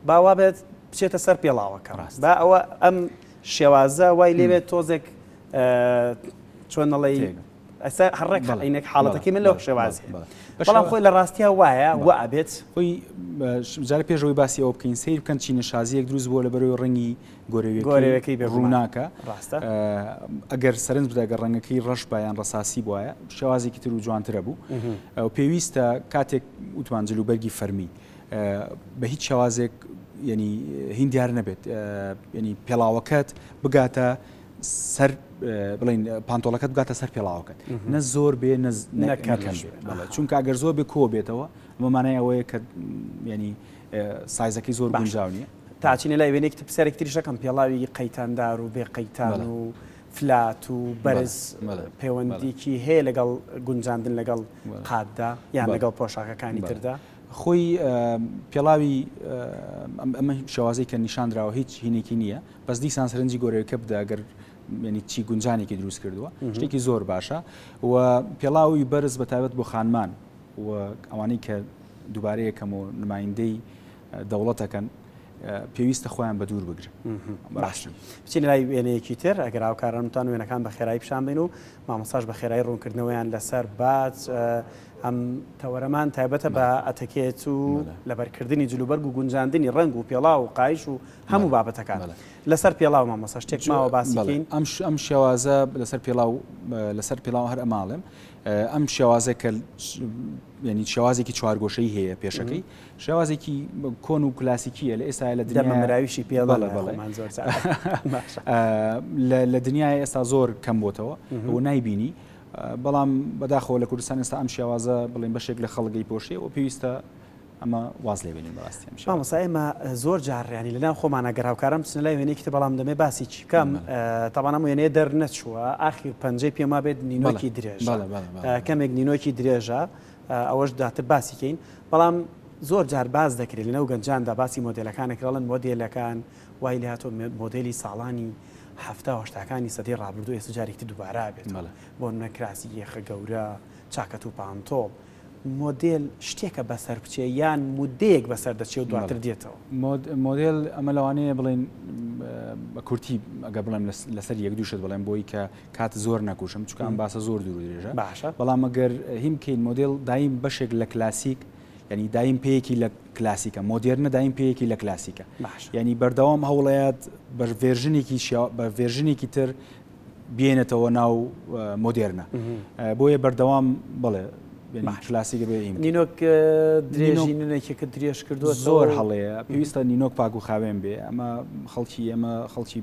باوا بێت بچێتە سەر پێڵاوەکە ڕاست با ئەوە ئەم شێوازە وای لێوێت تۆزێک چۆنەڵی ئەستا هە ڕێک بەڵێ عەینەک بەڵێ حاڵەتەکەی من لە بەڵێ بەڵێ شێوازێ بەڵێ بە بەڵام شێوا خۆی لە ڕاستیا وایە بەڵێ وە ئەبێت. خۆی بە ش جارێ پێش ئەوەی باسی ئەوە بکەین سەیر بکەن چینە شازییەک دروست بووە لە بەروێ ڕەنگی گۆرەویەکەی گۆرەوێکەی بێ گومان ڕووناکە ڕاستە. ئە ئەگەر سەرنج بدە گەر ڕەنگەکەی ڕەش با یان ڕەساسی بوایە شێوازێکی تر و جوانتر ئەبوو مهم. ئەو پێویستە کاتێک وتمان جل و بەرگی فەرمی ئە بە هیچ شێوازێک یەنی هین دیار نەبێت ئە یەنی پێڵاوەکەت بگاتە سەر بڵین پانتۆڵەکەت بگاتە سەر پێڵاوەکەت نە زۆر بێ نەکەم چونکە گەر زۆر بێ کۆ بێتەوە مەمانای ئەوەیە کە ینی سایزەکەی زۆر باشاو نیە تاچینە لای وێنێکتی پرسیارێک تریشەکەم پێڵاوی قەیتاندار و بێ قەیتان و فلات و بەرز پەیوەندیکی هەیە لەگەڵ گونجاندن لەگەڵ قاتدا یان لەگەڵ پۆشاکەکانی تردا خۆی پێڵاوی ئەم شێوازەی کە نیشاندراوە هیچ هینێکی نییە بەس دیسان سرنجی گۆرەوەکە بدە گەر ینی چی گونجانێکی دروست کردووە شتێکی زۆر باشە و پێڵاوی بەرز بە تایبەت بۆ خانمان و ئەوانەی کە دووبارەیەکەم و نمایندەی دەوڵەتەکەن پێویستە خۆیان بە دوور بگرن باشن بچین لای وێنەیەکی تر ئەگەر هاوکارانتان وێنەکان بە خێرایی پیشان بین و مامۆستاش بە خێرایی ڕوونکردنەوەیان لەسەر بات. ئەم تەوەرەمان تایبەتە بە ئەتەکێت و لەبەرکردنی جلوبەرگ و گونجاندنی ڕەنگ و پێڵاو و قایش و هەموو بابەتەکان لەسەر پێڵاو مامۆستا شتێک ماوە باسی بکەین. ئەم شێوازە لەسەر پێڵاو لەسەر پێڵاو هەر ئەماڵێم ئەم شێوازە کە یعنی شێوازێکی چوارگۆشەی هەیە پێشەکەی شێوازێکی کۆن و کلاسیکیە لە ئێستا لە دەمەراویشی پێڵە بەڵێ بەڵێ لە دنیای ئێستا زۆر کەم بۆتەوە و نایبینی بەڵام بەداخەوە لە کوردستان ئێستا ئەم شێوازە بڵێن بەشێک لە خەڵگەی پۆشێ و پێویستە ئەمە واز لێبێنین بەڕاستی مامۆسا ئێمە زۆر جاڕیانی لەناو خۆمانە گەراوکارم بچنە لای وێنێکی بەڵام دەمێ باسی چی بکەم تاوانم وێنێ دەرنەچووە ئاخیر پەنجەی پێما بێت نینۆکی درێژ کەمێک نینۆکی درێژە ئەوەش دواتر باسی کەین بەڵام زۆر جار باس دەکرێت لەنەو گەنجاندا باسی مۆدلەکانەکەڵن مۆدلەکان وای لە هاتۆ مۆدلی ساڵانی هەفتاهشتاکانی سەدەی ڕابردو ئێستا جارێکتی دووبارە بێت بۆ نەکراسی یەخە گەورە چاکەت و پانتۆڵ مۆدل شتێکە بەسەر بچێ یان مودەیەک بەسەر دەچێ و دواتر دێتەوە مۆدل ئەمە لەوانەیە بڵێن بە کورتی ئەگە بڵێم لەسەر یەک دووشت بڵێم بۆی کە کات زۆر نەکوشم چونکە ئەم باسە زۆر دوور و درێژە باشە بەڵام گەر هیم بکەین مۆدێل دایم بەشێک لە کلاسیک ینی دایم پێیەکی لە کلاسیکە مۆدێرنە دایم پێیەکی لە کلاسیکە ینی بەردەوام هەوڵەیەت بە ڤێرژنێکی بە ڤێرژنێکی تر بێنێتەوە ناو مۆدێرنە بۆیە بەردەوام بڵێ کلاسیکە بێ نینۆک درێژی نونێکێکە درێژ کردو زۆر هەڵەیە پێویستە نینۆک پاک و خاوێن بێ ئەمە خەڵکی ئێمە خەڵکی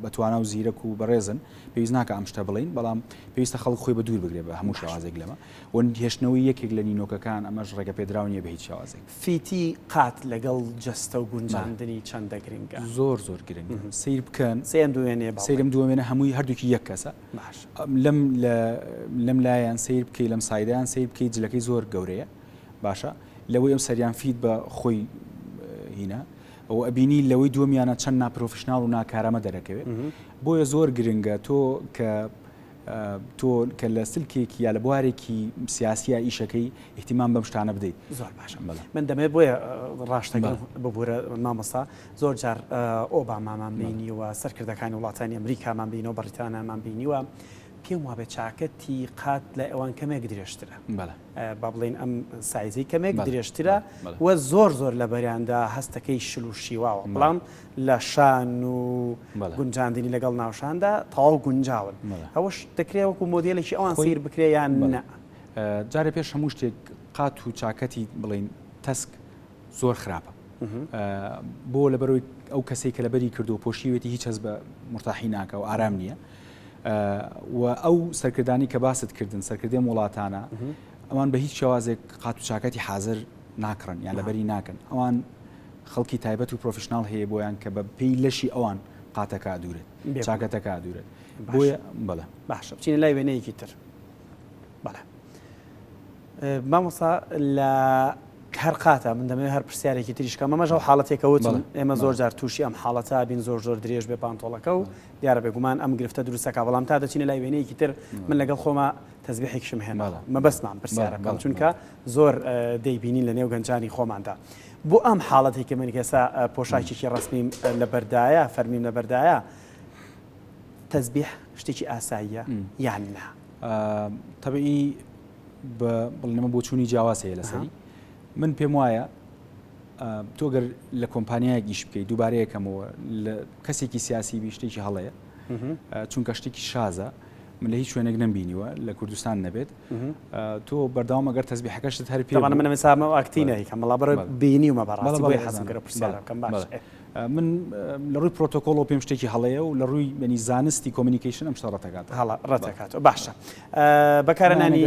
بەتوانا و زیرەک و بەڕێزن پێویست ناکە ئەم شتە بڵین بەڵام پێویستە خەڵک خۆی بە دوور بگرێ بە هەموو شێوازێک لەمە و هێشتنەوەی یەکێک لە نینۆکەکان ئەمەش ڕێگە پێدراو نیە بە هیچ شێوازێک فیتی قات لەگەڵ جەستە و گونجاندنی چەندە گرنگە زۆر زۆر گرنگ سیر بکەن سێن دوێنێ سەیرم دوێنێ هەمووی هەردووکی یەک کەسە باش لەم لە لەم لایان سەیر بکەی لەم سایدەیان سەیر بکەی جلەکەی زۆر گەورەیە باشە لەوەی ئەم سەریان فیت بە خۆی هینا ئەو ئەبینی لەوەی دووەمیانە چەند ناپرۆفشنناڵ و ناکارامە دەرەکەوێت بۆیە زۆر گرنگە تۆ کە تۆ کە لە سلکێکی یا لە بوارێکی سیاسیە ئیشەکەی احتیمان بەم شتانە بدەیت زۆر باشە من دەمێت بۆیە ڕاشتەکە ببوورە مامۆستا زۆر جار ئۆبامامان بینیوە، سەرکردەکانی وڵاتانی ئەمریکامان بینیوە، بەڕیتانامان بینیوە، پێم وابێت چاکەتی قات لای ئەوان کەمێک درێژترە. با بڵێین ئەم سایزەی کەمێک درێژترە و زۆر زۆر لە بەریاندا هەستەکەی شل و شیواوە، بەڵام لە شان و گونجاندنی لەگەڵ ناوشاندا تەواو گونجاون. ئەوەش دەکرێت وەکو مۆدێلێکی ئەوان سەیر بکرێت یان نا؟ جارێ پێش هەموو شتێک قات و چاکەتی بڵێین تەسک، زۆر خراپە بۆ لەبەرەوەی ئەو کەسەی کە لەبەری کردو پۆشیوێتی هیچ هەز بە مرتاحی ناکە و ئارام نییە و ئەو سەرکردانی کە باست کردن سەرکردێن وڵاتانە ئەوان بە هیچ شێوازێک قات و چاکەتی حاضر ناکڕن یان لەبەری ناکەن ئەوان خەڵکی تایبەت و پرۆفشنناڵ هەیە بۆیان کە بە پێی لەشی ئەوان قاتەکە دوورێت چاکەتەکە دوورێت بۆیە بەڵێ باشە بچینە لای وێنەیەکی تر بەڵێ مامۆستا لە هەر قاتە من دەمەوێت هەر پرسیارێکی تریشکە مەمەش ئەو حاڵەتێکە وتم ئێمە زۆر جار تووشی ئەم حاڵەتە بین زۆر زۆر درێژ بێ پانتۆڵەکە و دیارە بێگومان ئەم گرفتە دروستەکە بەڵام تا دەچینە لای وێنەیەکی تر من لەگەڵ خۆمە تەزبیحێکشم هێنا مەبەستمان پرسیارەکەم چونکە زۆر دەیبینین لە نێو گەنجانی خۆماندا بۆ ئەم حاڵەتێکی من کەسا پۆشاکێکی ڕستنیم لە بەردایە فەرمیم لە بەردایە تەزبیح شتێکی ئاساییە یان نا تەبیی بە بڵنەمە بۆچوونی جیاواز هەیە لەسەری من پێم وایە تۆگەر لە کۆمپانیایە گیش بکەیت دووبارەیەکەمەوە لە کەسێکی سیاسی بیشتێکی هەڵەیە چونکە شتێکی شازە من لە هیچ شوێنێک نمبینیوە لە کوردستان نەبێت تۆ بەرداوام ئەگەر تەزبی حەکەشت هەر پێ من مسامە ئاکتینەی کە مەڵا بەر بینی و مەبڕاستی بۆی حەزگەرە پرسیارەکەم باش من لە ڕووی پرۆتۆکۆڵ و پێم شتێکی هەڵەیە و لە ڕووی بەنی زانستی کۆمینیکیشن ئەم شتە ڕەتەکات هەڵە ڕەتەکات باشە بەکارنانی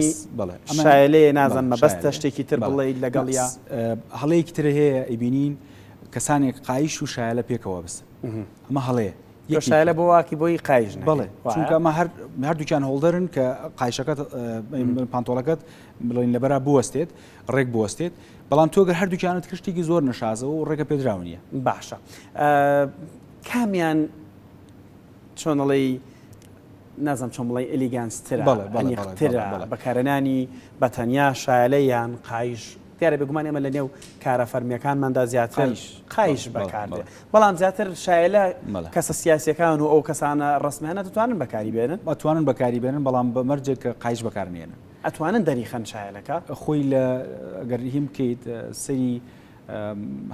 شایەلێ نازان مەبەستە شتێکی تر بڵێیت لەگەڵیا هەڵەیەکی ترە هەیە ئەیبینین کەسانێک قایش و شایلە پێکەوە بس ئەمە هەڵەیە یشایلە بۆ واکی بۆی قایش بڵێ چونکەمە هەر هەردووکیان هۆڵدەرن کە قایشەکەت پانتۆڵەکەت بڵین لەبەرا بوەستێت ڕێک بوەستێت بەڵام تۆگە هەردووکیانت کشتێکی زۆر نەشازەوە و ڕێگە پێدراونیە باشە کامیان چۆنەڵی نازانم چۆن بڵێ ئیلیگانس ترە بەڵێ بەڵێ ئەنیق بەڵێ ترە بەڵێ بەڵێ بەکارهێنانی بە تەنیا شایەلە یان قایش دیارە بێگومان ئێمە لە نێو کارە فەرمییەکانماندا زیاتر قایش بەڵێ قایش بەڵێ بەکار دێ بەڵێ بەڵام زیاتر شایەلە بەڵێ. کەسە سیاسییەکان و ئەو کەسانە ڕەسمیانە دەتوانن بەکاری بێنن؟ ئەتوانن بەکاری بێنن بەڵام بە مەرجێک کە قایش بەکار نێنن. ئەتوانن دەریخەن شایەلەکە؟ خۆی لە گەر هیم بکەیت سەیری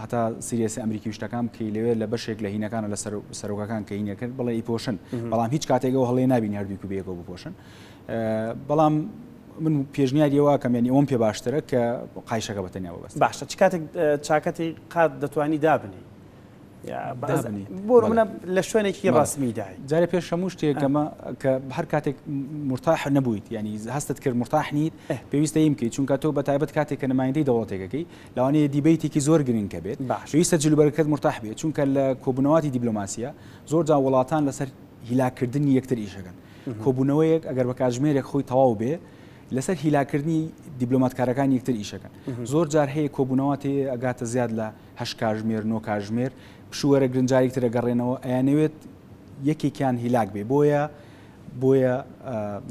هەتا سیریەسی ئەمریکی وشتەکان بکەی لەوێ لە بەشێک لە هینەکانە لە سەرۆکەکان کە هینە کرد بڵێ پۆشن بەڵام هیچ کاتێکەوە هەڵێ نبین هەردووکو بێگەوە بپۆشن بەڵام من پێشنیاریەوە کەمێنی ئەوم پێ باشترە کە قایشەکە بەتەنیاوە بەس باشە چ کاتێک چاکەتی قات دەتوانی دابنی بۆمە لە شوێنێکی ڕاستمیدای جارە پێش هەموو شتێکەمە کە هەر کاتێک مرتاح نەبوویت ینی هەستت کرد مرتاح نیت پێویستە یمکەیت چونکە تۆ بە تایبەت کاتێک کە نمایندەی دەوڵەتێکەکەی لەوانەیە دیبەیتێکی زۆر گرنکە بێت، باشە. پێویستە جلوبەرگەکەت مورتاح بێت، چونکە لە کۆبوونەواتی دیبلۆماسییە زۆر جا وڵاتان لەسەر هیلاککردنی یەکتر ئیش ئەکەن. کۆبوونەوەیەک ئەگەر بە کاتژمێرێک خۆی تەواو بێ لەسەر هیلاککردنی دیبلۆماتکارەکانی یەکتر ئیش ئەکەن. زۆر جار هەیە کۆبوونەواتی ئەگاتە زیاد لە هەشت کاتژمێر، نۆ کاتژمێر، پشووەرە گرنگ جاریک تر ئەگەڕێنەوە، ئەیانەوێت یەکێکیان هیلاک بێ. بۆیە بۆیە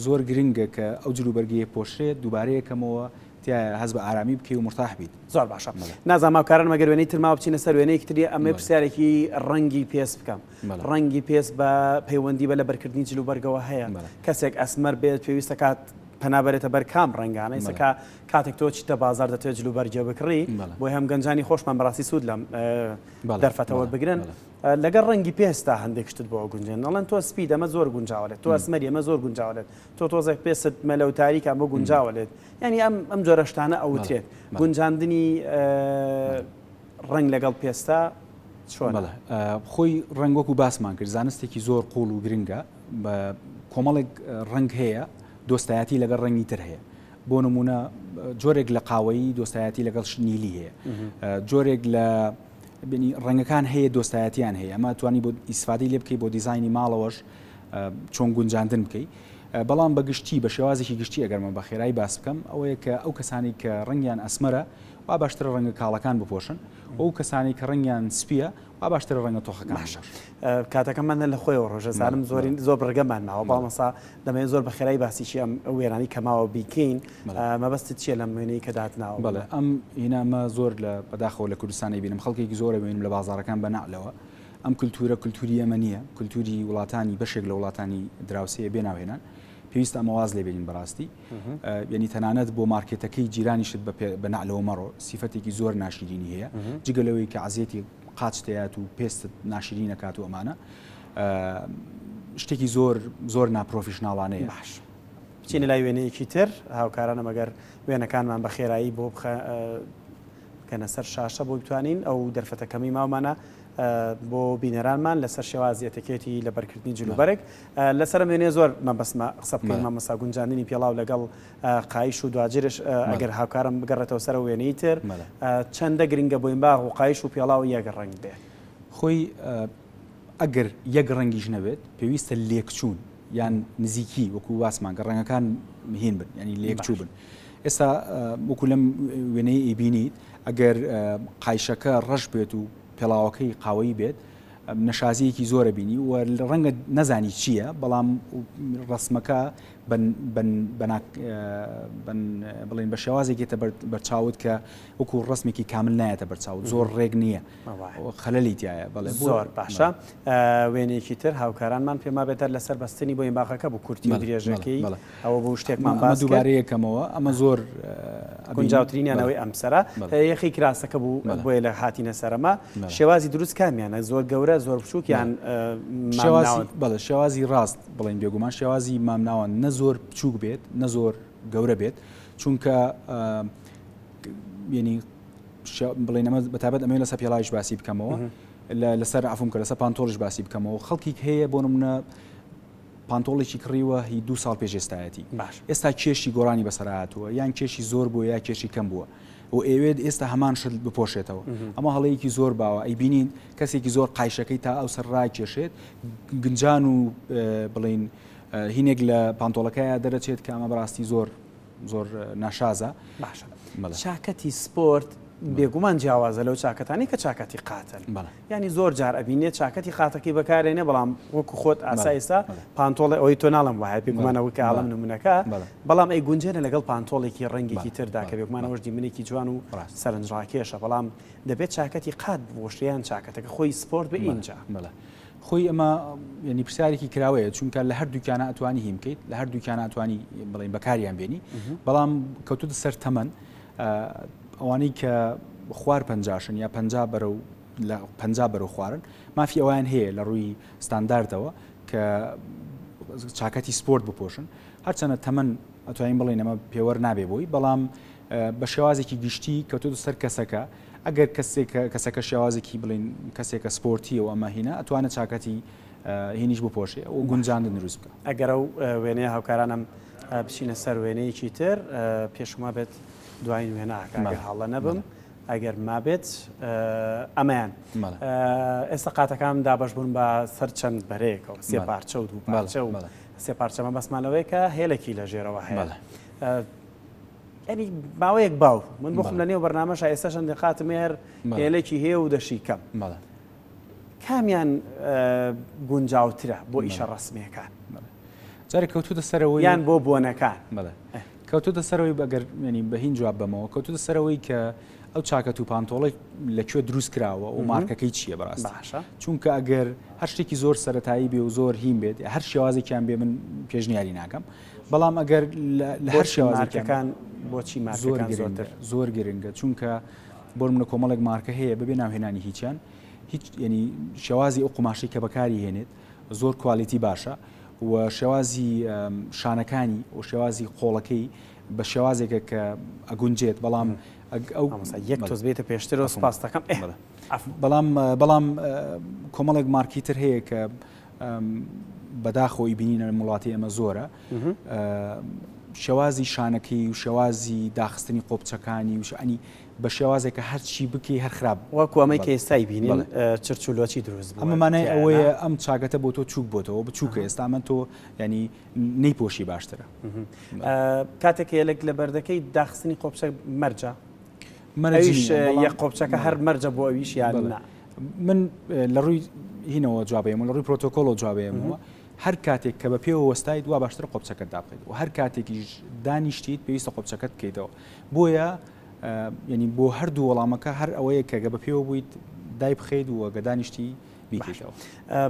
زۆر گرنگە کە ئەو جلوبەرگەی پۆشرێت، دووبارەی ئەکەمەوە تیایە هەست بە ئارامی بکەی و مورتاح بیت. زۆر باشە نازانم هاوکارانم ئەگەر وێنەی تر ماوە بچینە سەر وێنەیەکی تر ئەمەوێ پرسیارێکی ڕەنگی پێست بکەم ڕەنگی پێست بە پەیوەندی بە لەبەرکردنی جل و بەرگەوە هەیە کەسێک ئەسمەر بێت پێویست دەکات پەنا بەرێتە بەر کام ڕەنگانە ئێستا کە کاتێک تۆ چیتە بازار دەتوێت جل و بەرگێ بکڕی بۆی هەم گەنجانی خۆشمان بەڕاستی سوود لەم دەرفەتەوە بگرن لەگەڵ ڕەنگی پێستا هەندێک شتت بۆ گونجێن دەڵێن تۆ سپی دەمە زۆر گونجاوە لێت تۆ ئەسمەری ئەمە زۆر گونجاوە لێت تۆ تۆزێک پێست مەلە و تاریکە ئەمە گونجاوە لێت یانی ئەم ئەم جۆرە شتانە ئەوترێت گونجاندنی ڕنگ لەگەڵ پێستە چۆنڵە خۆی ڕنگ وەکو باسمان کرد زانستێکی زۆر قوڵ و گرنگە بە کۆمەڵێک ڕنگ هەیە دۆستایەتی لەگەڵ ڕنگی تر هەیە بۆ نمونە جۆرێک لە قاوەیی دۆستایەتی لەگەڵ شنیلی هەیە جۆرێک لە بینی ڕەنگەکان هەیە دۆستایەتیان هەیە ئەمە توانی بۆ ئیسفادی لێ بکەی بۆ دیزایانی ماڵەوەش چۆن گونجاندن بکەی بەڵام بە گشتی بە شێوازێکی گشتی ئەگەرمە بە خێرایی باس بکەم ئەوەیە کە ئەو کەسانی کە ڕنگیان ئەسمەرە وا باشترە ڕەنگە کاڵەکان بپۆشن ئەو کەسانی کە ڕنگیان سپیە وا باشترە ڕەنگە تۆخەکان کاتەکەمانە لە خۆیەوە ڕۆژە زانم زۆرین زۆر بڕگەمان ماوە باڵمەسا دەمێن زۆر بە خێرای باسیشی ئەم وێرانی کەماوە بیکەین مەبەستت چیە لەم وێنەی کە داتناوە بەڵێ ئەم هینامە زۆر لە بەداخەوە لە کوردستانی بینم خەڵکێکی زۆرە بینم لە بازارەکان بەنەعلەوە ئەم کولتوورە کولتووری ئێمە نییە، کولتووری وڵاتانی بەشێک لە وڵاتانی دراوسێیە بێ ناوهێنان. پێویستە ئەمە واز لێ بێنین بەڕاستی. یەنی تەنانەت بۆ مارکێتەکەی جیرانیشت بە نەعلەوە مەڕۆ، سیفەتێکی زۆر ناشیرینی هەیە. جگە لەوەی کە عەزیەتی قاچت دەیات و پێستت ناشیرین ئەکات و ئەمانە. شتێکی زۆر زۆر ناپرۆفیشناڵانەیە. باش. بچینە لای وێنەیەکی تر، هاوکارانم ئەگەر وێنەکانمان بە خێرایی بۆ بکەنە سەر شاشە بۆ بتوانین ئەو دەرفەتە کەمەی ماومانە بۆ بینەرانمان لەسەر شێوازی ئەتەکێتی لەبەرکردنی جلوبەرگ لەسەرم وێنێ زۆر مەبەسمە قسە بکەین مامەسا گونجاندنی پێڵاو لەگەڵ قایش و دواجرش ئەگەر هاوکارم بگەڕێتەوە سەر وێنەی تر چەندە گرنگە بۆین باغ و قایش و پێڵاو یەک ڕنگ بێ خۆی ئەگەر یەک ڕەنگیش نەبێت پێویستە لێکچوون یان نزیکی وەکو واسمان گە ڕەنگەکان مهین بن ینی لێکچوو بن. ئێستا وەکو لەم وێنەی ئیبینیت ئەگەر قایشەکە ڕەش بێت و پێڵاوەکەی قاوەی بێت نەشازیەکی زۆرە بینی و ڕەنگە نەزانی چییە بەڵام ڕسمەکە بڵێن بە شێوازێکێتە بەرچاوت کە وەکو ڕسمێکی کامل نایەتە بەرچاو زۆر ڕێک نییە خەلەلی تایە بەڵێ زۆر باشە وێنێکی تر هاوکارانمان پێما بێتەر لەسەر بەستنی بۆ باغەکە بوو کورتی درێژەکەی ئەوە بوو شتێکمان باس کرد. ئەمە دووبارەی یەکەمەوە، ئەمە زۆر ئەبینین. گونجاوترینیان ئەوەی ئەمسەرە. یەخەی کراسەکە بوو، بۆیە لە هاتینە سەر ئەمە. شێوازی دروست کامیانە؟ زۆر گەورە، زۆر بچووک یان مامناوەند؟ بەڵێ، شێوازی راست بڵێین بێگومان شێوازی مامناوەند نە زۆر بچووک بێت، نە زۆر گەورە بێت، چونکە یەنی بڵێن ئەمە بە تابەت ئەمەوێ لەسەر پێڵاویش باسی بکەمەوە، لەسەر عەفوم کە لەسەر پانتۆڵیش باسی بکەمەوە. خەڵکیک هەیە بۆ نمونە پانتۆڵێکی کڕیوە هی دوو ساڵ پێش ئێستایەتی باش. ئێستا کێشی گۆڕانی بەسەرا هاتووە یان کێشی زۆر بووە یا کێشی کەم بووە و ئێوێت ئێستا هەمان شت بپۆشێتەوە ئەمە هەڵەیەکی زۆر باوە ئەیبینین کەسێکی زۆر قایشەکەی تا ئەو سەر ڕاکێشێت گنجان و بڵین هینێک لە پانتۆڵەکەیە دەرەچێت کە ئەمە بەڕاستی زۆر زۆر ناشازە باشە چاکەتی سپۆرت بێگومان جیاوازە لەو چاکەتانی کە چاکەتی قاتن بەڵێ یانی زۆر جار ئەبینێ چاکەتی قاتەکەی بەکارێنێ بەڵام وەکو خۆت ئاسا ئێستا پانتۆڵێ ئەوەی تۆ ناڵێم وایە پێ گومانە وکە ئاڵم نمونەکە بەڵام ئەی گونجێنە لەگەڵ پانتۆڵێکی ڕەنگێکی تردا کە بێگومانەوەش دیمەنێکی جوان و سەرنجڕاکێشە بەڵام دەبێت چاکەتی قات بوەشێ یان چاکەتەکە خۆی سپۆرت بە ئینجا مەلا خۆی ئەمە ینی پرسیارێکی کراوەیە چونکە لە هەردووکیانە ئەتوانی هیم بکەیت لە هەردووکیانە ئەتوانی بڵین بەکاریان بێنی بەڵام کەوتوتە سەر تەمەن ئەوانەی کە خوار پەنجاشن یا پەنجا بەرەو لە پەنجا بەرەو خوارن مافی ئەویان هەیە لە ڕووی ستانداردەوە کە چاکەتی سپۆرت بپۆشن هەرچەنە تەمەن ئەتوانین بڵێن ئەمە پێوەەر نابێ بۆی بەڵام بە شێوازێکی گشتی کەوتۆ سەر کەسەکە ئەگەر کەسێک کەسەکە شێوازێکی بڵین کەسێکە سپۆرتی و ئەمە هینا ئەتوانە چاکەتی هینیش بپۆشێ و گونجاندن دروست بکە ئەگەرە وێنەیە هاوکارانم بچینە سەر وێنەیەکی تر پێش وما بێت دوایین وێنە ئاکا گەر هەڵە نەبم ئەگەر مابێت ئەمەیان ئێستا قاتەکان دابش بوون بە سەر چەند بەرەیەکەوە سێ پارچە و دوو پارچە و سێ پارچەمە بەسمانەوەی کە هێلەکی لە ژێرەوە هەیە ئەنی باوەیەک باو من بخم لە نێو بەرنمەش ئێستا شەندی قاتم هەر هێلێکی هەیە و دەشی کەم کامیان گونجاوترە بۆ ئیشە ڕەسمیەکان جارێک کەوتوتە سەرەوەی یان بۆ بۆنەکان بڵێ کەوتوتە سەرەوەی بەگەر ینی بە هین جواب بەمەوە کەوتوتە سەرەوەی کە ئەو چاکەت و پانتۆڵی لەکوێ دروست کراوە و مارکەکەی چییە بەڕاست باشە چونکە ئەگەر هەر شتێکی زۆر سەتایی بێ و زۆر هیم بێت هەر شێوازێکیان بێ من پێشنیاری ناکەم بەڵام ئەگەر لە هەر شێوازەکەکان بۆچی زۆر زۆر گرنگە چونکە بۆ نمونە کۆمەڵێک مارکە هەیە بەبێ ناوهێنانی هیچیان هیچ ینی شێوازی ئەو قوماشی کە بەکاری هێنێت زۆر کوالیتی باشە و شێوازی شانەکانی و شێوازی قۆڵەکەی بە شێوازێکە کە ئەگونجێت بەڵام یەک تۆز بێتە پێشترەوە سپاستەکەم بەڵام بەڵام کۆمەڵێک مارکیتر هەیە کە بەداخەوەی بینینە لەم وڵاتی ئەمە زۆرە شێوازی شانەکەی و شێوازی داخستنی قۆپچەکانی وشانی بە شێوازێک کە هەرچی بکی هەر خراپ وەکو ئەمەی کە ئێستای بینی چرچولۆچی دروست ئەمەمانای ئەوەیە ئەم چاگەتە بۆ تۆ چوک بۆتەوە بچووکە ئێستا من تۆ ینی نەی پۆشی باشترە کاتێک هێلک لە بەردەکەی داخستنی قۆپچە مەرجە مەرج ئەویش نییە بەڵام یە قۆپچەکە هەر مەرجە بۆ ئەویش یان بەڵێ نا؟ من لە ڕووی هینەوە جواب دەیەمەوە لە ڕووی پرۆتۆکۆڵەوە جواب دەیەمەوە هەر کاتێک کە بە پێوە وەستایت وا باشترە قۆپچەکەت دابخەیت و هەر کاتێکیش دانیشتیت پێویستە قۆپچەکەت بکەیتەوە بۆیە یعنی بۆ هەردوو وەڵامەکە هەر ئەوەیە کە گە بە پێوە بوویت دایبخەیت و گە دانیشتی بیکەیتەوە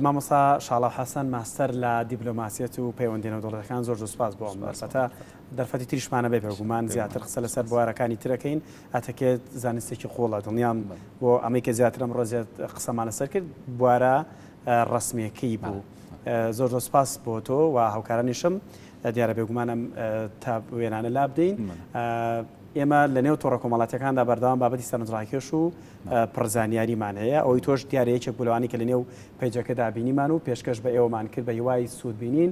مامۆستا شاڵاو حەسەن ماستەر لە دیبلۆماسیەت و پەیوەندی نێودەوڵەتەکان زۆر زۆر سوپاس بۆ ئەم بەسەتە دەرفەتی تریشمان هەبێت بێ گومان زیاتر قسە لەسەر بوارەکانی تر ئەکەین، ئەتەکێت زانستێکی قووڵە دڵنیام بۆ ئەمەی کە زیاتر ئەمڕۆ زیاد قسەمان لەسەر کرد بوارە ڕەسمییەکەی بوو. زۆر زۆر سپاس بۆ تۆ و هاوکارانیشم، دیارە بێ گومان ئەم تا وێنانە لابدەین. ئێمە لەنێو تۆڕە کۆمەڵاتییەکاندا بەردەوام بابەتی سەرنجڕاکێش و پڕ زانیاریمان هەیە، ئەوەی تۆش دیارە یەکێک بوو لەوانەی کە لەنێو پەیجەکەدا بینیمان و پێشکەش بە ئێوەمان کرد بە هیوای سوودبینین.